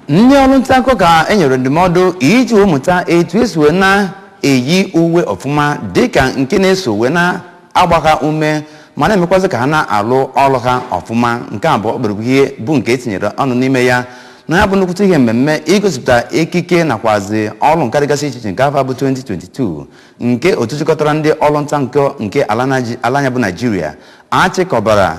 ndị ọrụ nta akụkọ ka e nyere ndụmọdụ iji wee mụta etu esi wee na-eyi uwe ọfụma dịka nke na-eso wee na-agba ha ume ma na-emekwazị ka ha na-alụ ọrụ ha ọfụma nke a bụ ọkpụrụkpụ ihe bụ nke e tinyere ọnụ n'ime ya na ya bụ nnukwute ihe mmemme igosipụta ekike nakwazi ọrụ nka dịgasị iche iche nke afọ bụ 2022 nke otu chịkọtara ndị ọrụ nta akụkọ nke ala Naiji- ala anyị a bụ naijiria achịkọbara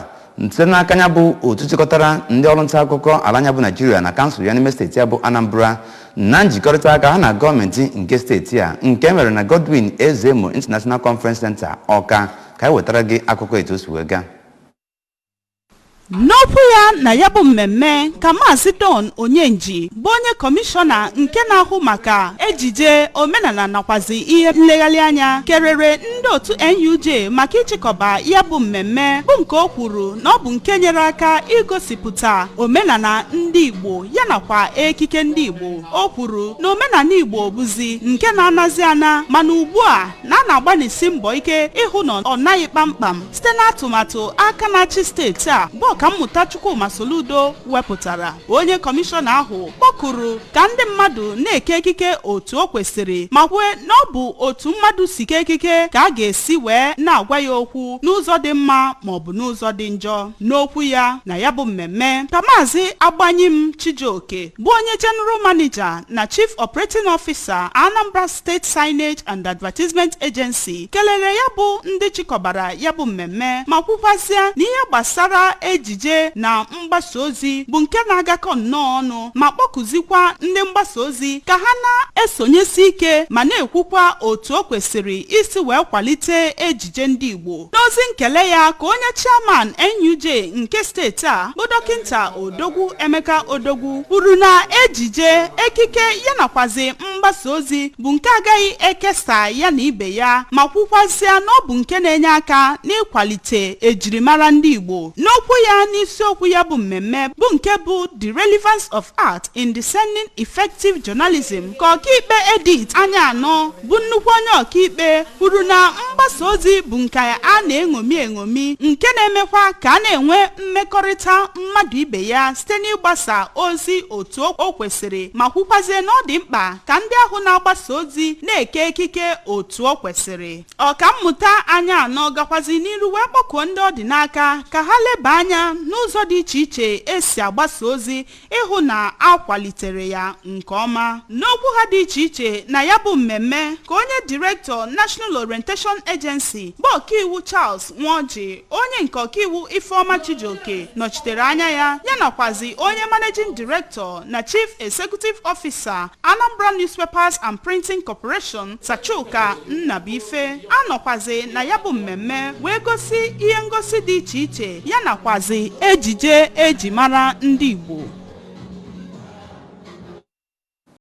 site n'aka ya bụ otu chịkọtara ndị ọrụ nta akụkọ ala anyị a bụ naijiria na kansụl ya n'ime steeti a bụ anambra na njikọrịta aka ha na gọọmenti nke steeti a nke mere na godwin ezemo international conference center ọka ka anyị wetara gị akụkọ etu o si wee gaa n'okwu ya na ya bụ mmemme ka maazị don onyenji bụ onye kọmishọna nke na-ahụ maka ejije omenala nakwazi ihe nlegharị anya kelere ndị otu NUJ maka ịchịkọba ya bụ mmemme bụ nke o kwuru na ọ bụ nke nyere aka igosipụta omenala ndị Igbo ya nakwa ekike ndị Igbo o kwuru na omenala Igbo bụzi nke na-anazi ana mana ugbu a na a na-agbanisi mbọ ike ịhụ na ọ naghị kpamkpam site n'atụmatụ aka na-achị steeti a bụ ọkammụta Chukwuma Soludo wepụtara onye kọmishọna ahụ kpọkuru ka ndị mmadụ na-eke ekike otu o kwesịrị ma kwue na ọ bụ otu mmadụ si kee ekike ka a ga-esi wee na-agwa ya okwu n'ụzọ dị mma ma ọ bụ n'ụzọ dị njọ n'okwu ya na ya bụ mmemme ka maazị Agbanyim Chijioke bụ onye General Manager na Chief Operating Officer Anambra State Signage and Advertisement Agency kelere ya bụ ndị chịkọbara ya bụ mmemme ma kwukwazịa na ihe gbasara ejije na mgbasa ozi bụ nke na-agakọ nnọọ ọnụ ma kpọkuzikwa ndị mgbasa ozi ka ha na-esonyesi ike ma na-ekwukwa otu o kwesịrị isi wee kwalite ejije ndị Igbo n'ozi nkele ya ka onye chairman NUJ nke steeti a bụ dọkịnta Odogwu Emeka Odogwu kwuru na ejije ekike ya nakwazi mgbasa ozi bụ nke agaghị ekesa ya na ibe ya ma kwukwazịa na ọ bụ nke na-enye aka n'ịkwalite ejirimara ndị Igbo n'okwu ya n'isiokwu ya bụ mmemme bụ nke bụ The Relevance of Art in Discerning Effective Journalism ka ọkaikpe Edith Anyanwụ bụ nnukwu onye ọkaikpe kwuru na mgbasa ozi bụ nke a na-eṅomi eṅomi nke na-emekwa ka a na-enwe mmekọrịta mmadụ ibe ya site n'ịgbasa ozi otu o kwesịrị ma kwukwazie na ọ dị mkpa ka ndị ahụ na-agbasa ozi na-eke ekike otu o kwesịrị ọkammụta Anyanwụ gakwazi n'iru wee kpọkuo ndị ọ dị n'aka ka ha leba anya n'ụzọ dị iche iche esi agbasa ozi ịhụ na a kwalitere ya nke ọma n'okwu ha dị iche iche na ya bụ mmemme ka onye direktọ National Orientation Agency bụ ọkaiwu Charles Nwoji onye nke ọkaiwu Ifeoma Chijioke nọchitere anya ya ya nakwazi onye managing director na chief executive officer Anambra Newspapers and Printing Corporation Sir Chuka Nnabuife anọkwazi na ya bụ mmemme wee gosi ihe ngosi dị iche iche ya nakwazi ejije eji mara ndị Igbo